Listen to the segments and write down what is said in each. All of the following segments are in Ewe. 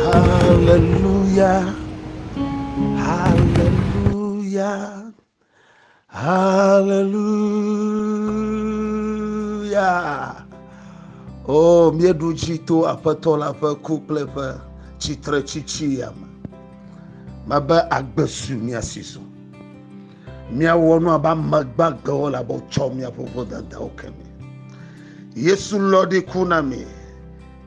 Hallelujah, hallelujah, hallelujah. O míeɖu dzi to aƒetɔ la ƒe ku kple ƒe tsitre tsitsi ya me. Mebe agbe su míasi su. Míawɔ nu abe ame gbagbewo le abe wotsɔ míaƒe vodadawo ke me. Yesu lɔ ɖi ku na mi.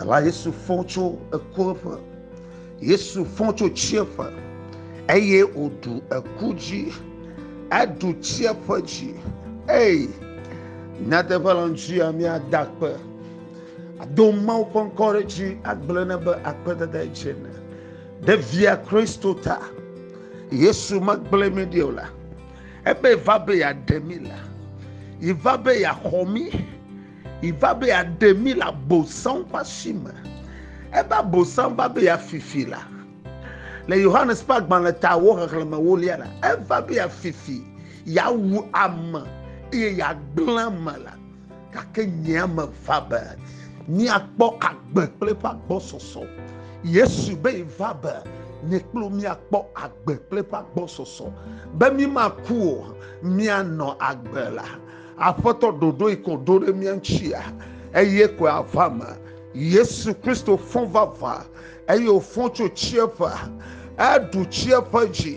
Ela Yesu fɔ tso eku ƒe. Yesu fɔ tso tsieƒe eye wòɖu eku dzi. Eɖu tsieƒe dzi. Ei, nyateƒe le ŋuti ya míada akpe. Ado Mawu ƒe ŋkɔ ɖe dzi agblɔ ne be akpedada dze ne. Ɖe via Kristo ta. Yesu megblẽ mi ɖi o la. Ebe va be yeaɖe mi la. Yi va be yeaxɔ mi. Iva be yeaɖe mí le Abosam ƒe asi me. Ebe Abosam va be yeafifi la, le Yohanes ƒe agbalẽtawo xexlẽme ewolia la, eva be yeafifi, yeawu ame eye yeagblẽ ame la. Gake nye ame va be míakpɔ agbe kple eƒe agbɔsɔsɔ. Yesu be va be nye kple wò míakpɔ agbe kple eƒe agbɔsɔsɔ, be mímaku o, míanɔ agbe la. Aƒetɔ ɖoɖoe ko ɖo ɖe mía ŋutsia, eye koe ava me. Yesu Kristo fɔ vava, eye wòfɔ tso tsiẽƒe. Eɖu tsiẽƒe dzi.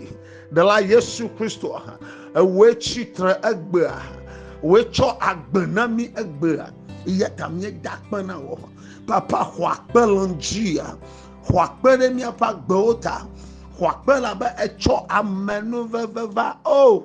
Ɖela Yesu Kristo, ewòe tsi tre egbea. Wòe tsɔ agbe na mí egbea. Eya ta míeda akpe na wò. Papa, xɔ akpe le ŋudzia. Xɔ akpe ɖe míaƒe agbewo ta. Xɔ akpe elabe ètsɔ amenuveve va. O! Oh!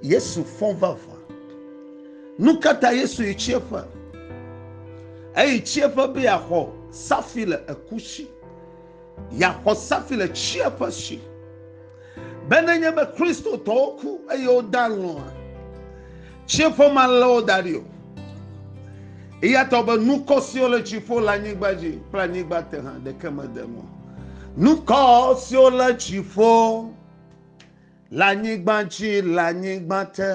Yesu fɔ vavã. Nu ka ta Yesu yi tsiẽƒe? Eyi tsiẽƒe be yeaxɔ safi le eku si, yeaxɔ safi le tsiẽƒe si. Be nenye be Kristotɔwo ku eye wode alɔ̃a, tsiẽƒe malé wo da ɖi o. Eya ta be nukɔ siwo le dziƒo, le anyigba dzi kple anyigba te hã ɖeke mede ŋu o. Nukɔ siwo le dziƒo. Le anyigba dzi, le anyigba te,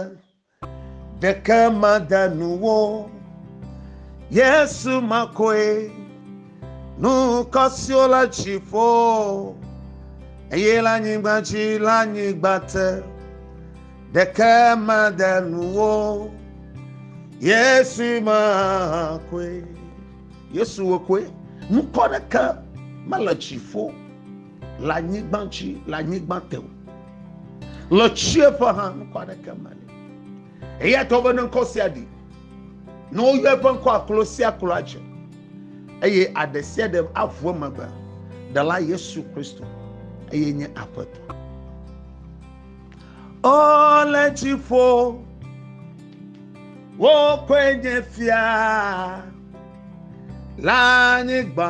ɖeke made nu wo. Yesu makoe, nu kɔ siwo le dziƒo, eye le anyigba dzi, le anyigba te, ɖeke made nu wo. Yesu makoe, Yesu wòkoe, nu kɔ ɖeke mele dziƒo. Le anyigba dzi, le anyigba te o. Le tsieƒe hã ŋkɔ aɖeke meli. Eya ta wobene ŋkɔ sia ɖi. Ne woyɔ eƒe ŋkɔ aklo sia aklo adze eye aɖe sia ɖe aʋu eme be ɖela Yesu Kristo eye nye aƒetɔ. O le dziƒo, wokɔe nye fia le anyigba.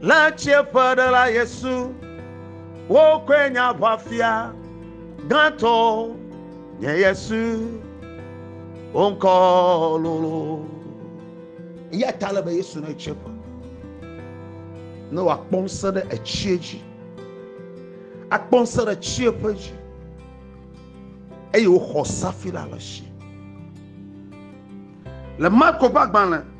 Le tsiẽƒe ɖe la Yesu, wokɔe nye aʋafia gãtɔ, nye Yesu, wo ŋkɔ lolo. Eya ta le be Yesu ne tsiẽƒe, ne wòakpɔ ŋusẽ ɖe etsie dzi, akpɔ ŋusẽ ɖe tsiẽƒe dzi, eye wòxɔ safira le si. Le Marko ƒe agbalẽ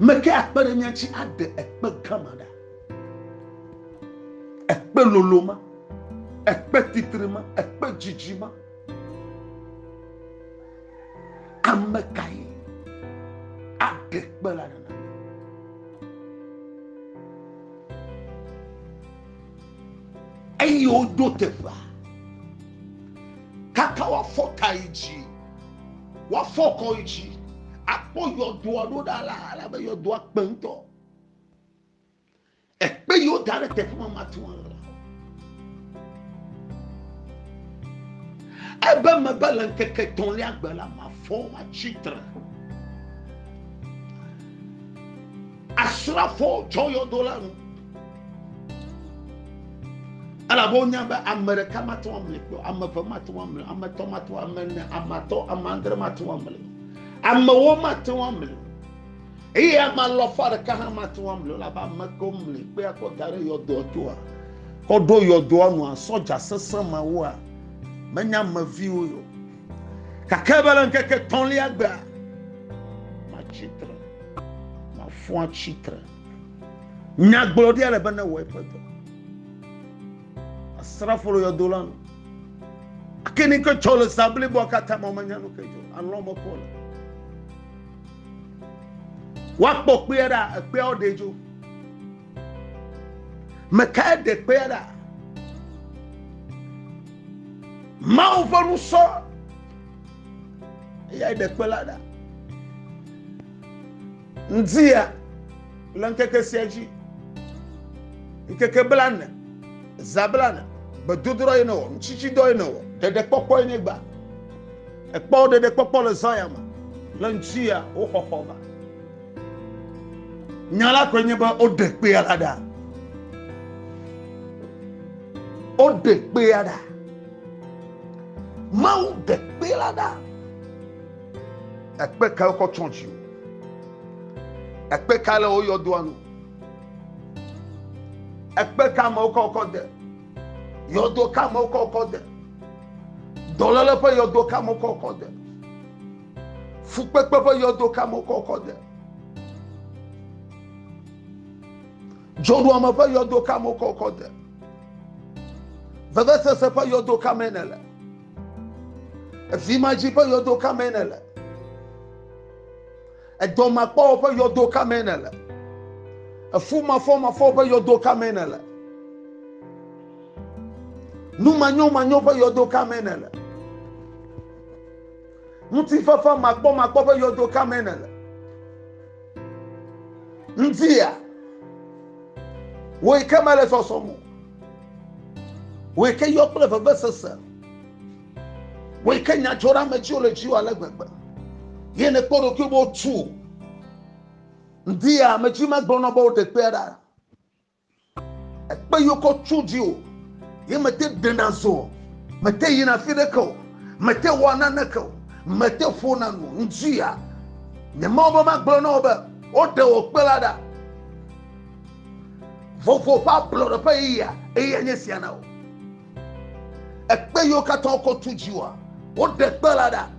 Meke akpe ɖe mía dzi aɖe ekpe gã ma ɖa. Ekpe lolo ma, ekpe titri ma, ekpe dzidzi ma. Ame kae aɖe ekpe la ɖa? eye woɖo teƒea kaka woafɔ ta yi dzi Woafɔ kɔ yi dzi akpɔ yɔdoa ɖo ɖa la, alabe yɔdoa kpe ŋutɔ. Ekpe yiwo da ɖe teƒe ma matu alɔ. Ebe mebe le ŋkeke tɔ̃lia gbe la, mafɔ matsi tre. Asrafowo tsɔ yɔdo la nu. Elabe wonya be ame ɖeka mate ŋu amli kpɔ, ame eve mate ŋu amli, ame etɔ̃ mate ŋu, ame ene, ame atɔ̃, ame adre mate ŋu amli. Amewo mate ŋu amli. Eye ame alɔfa ɖeka hã mate ŋu amli, elabe ame kewo mli kpe akɔ da ɖe yɔdoa toa, kɔ ɖo yɔdoa nua, sɔdza sesẽ mawoa, menye ame viwo o. Gake be le ŋkeke etɔ̃lia gbea, matsi tre, mafu atsi tre. Nyagblɔɖia le be newɔ eƒe dɔ. Asrafo le yɔdo la nu. Ake ni ke tsɔ le zã bliboa katã ma menya nu ke dzɔ. Alɔ mekɔ le. Woakpɔ kpea ɖa, ekpeawo ɖe dzo. Mekae ɖe kpea ɖa? Mawu ƒe nu sɔ eyae ɖe kpe la ɖa. Ŋdia le ŋkeke sia dzi. Ŋkeke blane, za blane, gbedodoɖa ye newɔ, ŋutsitsidɔ ye newɔ, ɖeɖekpɔkpɔ ye negba. Ekpɔ ɖeɖekpɔkpɔ le zã ya me le ŋutia wo xɔxɔ me. Nya la koe nye be woɖe kpea la ɖa. Woɖe kpea ɖa. Mawu ɖe kpe la ɖa. Ekpe kae wokɔ tsɔ dzi o. Ekpe kae le wo yɔdoa nu. Ekpe ka amewo kɔ kɔ de. Yɔdo ka amewo kɔ kɔ de. Dɔléle ƒe yɔdo ka amewo kɔ kɔ de. Fukpekpe ƒe yɔdo ka me wokɔ kɔ de? Dzɔɖuame ƒe yɔdo ka me wokɔ kɔ de? Vevesese ƒe yɔdo ka mee nèle? Evimadzi ƒe yɔdo ka mee nèle? Edɔmakpɔwɔ ƒe yɔdo ka mee nèle? Efumafɔmafɔ ƒe yɔdo ka mee nèle? Numanyomanyo ƒe yɔdo ka mee nèle? Ŋutifafa makpɔmakpɔ ƒe yɔdo ka me nèle? Ŋutia wòe ke mele sɔsɔm o. Wòe ke yɔ kple vevesese. Wòe ke nyadzɔɖeametsiwo le dziwò ale gbegbe. Ye nèkpɔ ɖokui be wotu. Ŋutia ame dzi megblɔ nɔ be woɖe kpea ɖa. ekpe yokɔ tso dzi o ye mete ɖena zɔ o mete yina fi ɖeke o mete wɔ naneke o mete ƒona nu ŋdzia nye mawo be magblɔ na wo be woɖe wɔ kpe la ɖa vovo ƒe ablɔɖe ƒe yeyea eye nye sia na wo ekpe yiwo katã wokɔ tu dzi woa woɖe kpe la ɖa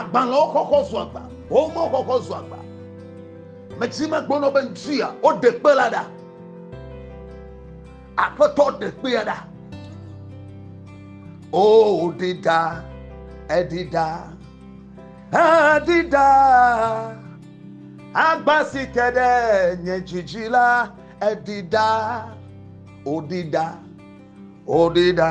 Agbalẽwo xɔxɔ zu agba, homewo xɔxɔ zu agba. Medzi megblɔnɔ be ŋutia woɖe kpe la ɖa. Aƒetɔ ɖe kpea ɖa. O ɖi ɖa, eɖi ɖa, eɖi ɖa. Agba si te ɖe nye dzidzi la, eɖi ɖa, oɖi ɖa, oɖi ɖa.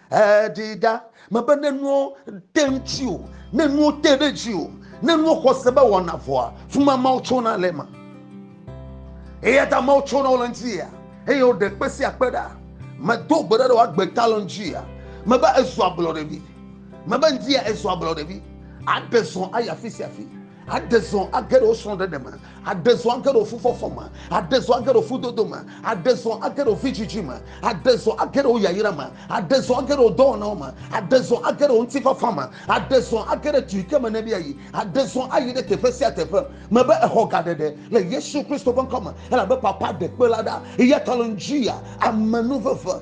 Eɖee ɖa mebe ne nuwo te ŋuti o, ne nuwo te ɖe dzi o, ne nuwo xɔ se be wɔna vɔa, fuma Mawu tsona le eme. Eya ta Mawu tsona wo le ŋuti ya, eye woɖe kpe sia kpe ɖa. Medo gbe ɖa ɖe woagbe ta le ŋuti ya. Mebe ezu ablɔɖevi. Mebe ŋdi ya ezu ablɔɖevi. Aɖe zɔ ayi afi sia afi. Aɖe zɔ age ɖe wo srɔ̃ɖeɖe me, aɖe zɔ age ɖe wo fufɔfɔ me, aɖe zɔ age ɖe wo fudodo me, aɖe zɔ age ɖe wo vidzidzi me, aɖe zɔ age ɖe wo yayra me, aɖe zɔ age ɖe wo dɔwɔnawo me, aɖe zɔ age ɖe wo ŋutifafa me, aɖe zɔ age ɖe du yi ke me nèɖi ayi, aɖe zɔ ayi ɖe teƒe sia teƒe. Mebe èxɔ gaɖeɖe le Yesu Kristo ƒe ŋkɔ me, elabe Papa ɖe kpe la ɖa, eya ta le ŋdzi ya amenuveve.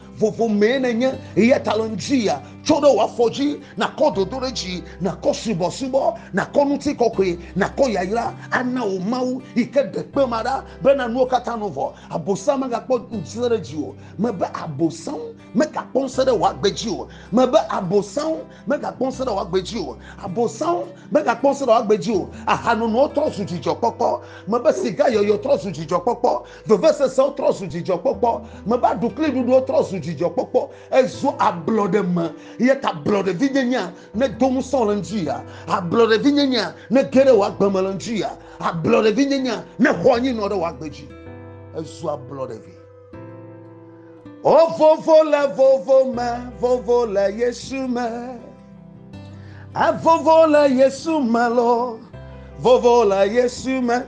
Vovo mee nènye, eya ta le ŋdziya, tso ɖe wò afɔ dzi, nàkɔ dodoɖedzi, nàkɔ subɔsubɔ, nàkɔ ŋutikɔkɔe, nàkɔ yayra, ana wò Mawu, yi ke ɖe kpe ma ɖa, bena nuwo katã nu vɔ, Abosam megakpɔ ŋusẽ ɖe dziwò, mebe Abosam megakpɔ ŋusẽ ɖe wò agbe dzi o, mebe Abosam megakpɔ ŋusẽ ɖe wò agbe dzi o, Abosam megakpɔ ŋusẽ ɖe wò agbe dzi o, ahanonowo trɔ zu dzidzɔkpɔkpɔ, mebe sigayɔyɔ trɔ zu dzidzɔkpɔkpɔ. Vevesesewo trɔ zu dzidzɔkpɔkpɔ. Meva ɖu kli ɖuɖuwo trɔ zu dzidzɔkpɔkpɔ. Ezu ablɔɖe me eya ta ablɔɖevinyenyea nedo ŋusẽ wò le ŋdi ya. Ablɔɖevinyenyea nege ɖe wò agbe me le ŋdi ya. Ablɔɖevinyenyea nexɔ anyi nɔ ɖe wò agbe dzi. Ezu ablɔɖevi. O vovo le vovo me, vovo le Yesu me. Evovo le Yesu me lɔ, vovo le Yesu me.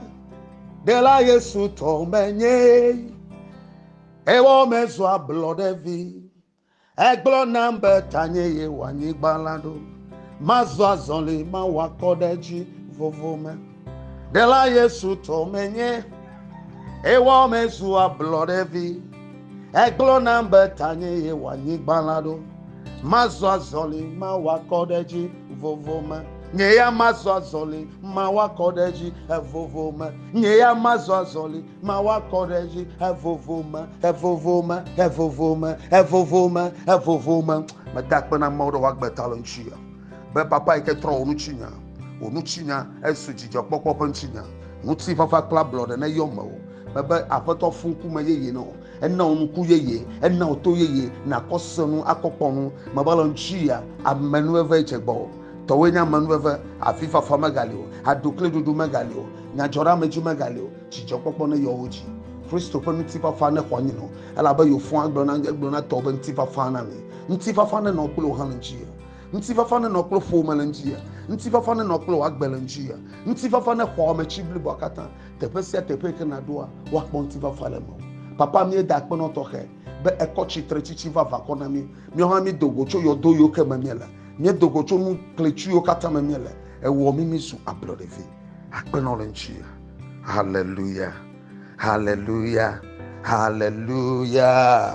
Ɖela Yesu tɔ menye ewɔ mezɔ ablɔɖe vi egblɔ nam be tanye ye wɔ anyigba la ɖo mazɔ azɔli mawɔ akɔ ɖe dzi vovo me ɖela Yesu tɔ menye ewɔ mezu ablɔɖe vi Egblɔ nam be tanye yewɔ anyigba la ɖo. Mazɔ azɔli, mawɔ akɔ ɖe edzi vovo me. Nye ya mazɔ azɔli, mawɔ akɔ ɖe edzi evovo me. Nye ya mazɔ azɔli, mawɔ akɔ ɖe edzi evovo me, evovo me, evovo me, evovo me, evovo me. Meda akpe na Mawu ɖe wòagbe ta le ŋuti ya. be papa yi ke trɔ wò ŋutinya wò ŋutinya esu dzidzɔkpɔkpɔ ƒe ŋutinya ŋutifafa kple ablɔɖe neyɔ mewò mebe aƒetɔ fũ ŋkume yeye na wò ena wò ŋku yeye ena wò to yeye nakɔ se nu akɔ kpɔ nu mebe le ŋutia amenuveve dze gbɔ o tɔwoe nye amenuveve avifafa megali o aɖukliɖuɖu megali o nyadzɔɖeamedzi megali o dzidzɔkpɔkpɔ neyɔ wo dzi kristo ƒe ŋutifafa nexɔ anyi nɔ elabe yewo fũ agblɔ na egblɔ na tɔwo be ŋutifafa na mi ŋutifafa nenɔ kple wò hã le ŋuti Ŋutifafa nenɔ kple ƒome le ŋdzi ya. Ŋutifafa nenɔ kple wò agbe le ŋdzi ya. Ŋutifafa nexɔ ame tsi bliboa katã. Teƒe sia teƒe yi ke nàɖoa, woakpɔ ŋutifafa le mewò. Papa, míeda akpe na wò tɔxɛ be èkɔ tsitre tsitsi va vakɔ na mí. Míawo hã míedo go tso yɔdo yiwo ke me míele. Míedo go tso nu klẽtsu yiwo katã me míele. Èwɔ mí mízu ablɔɖevi. Akpe na wò le ŋdzi ya. Haleluya! Haleluya! Haleluya!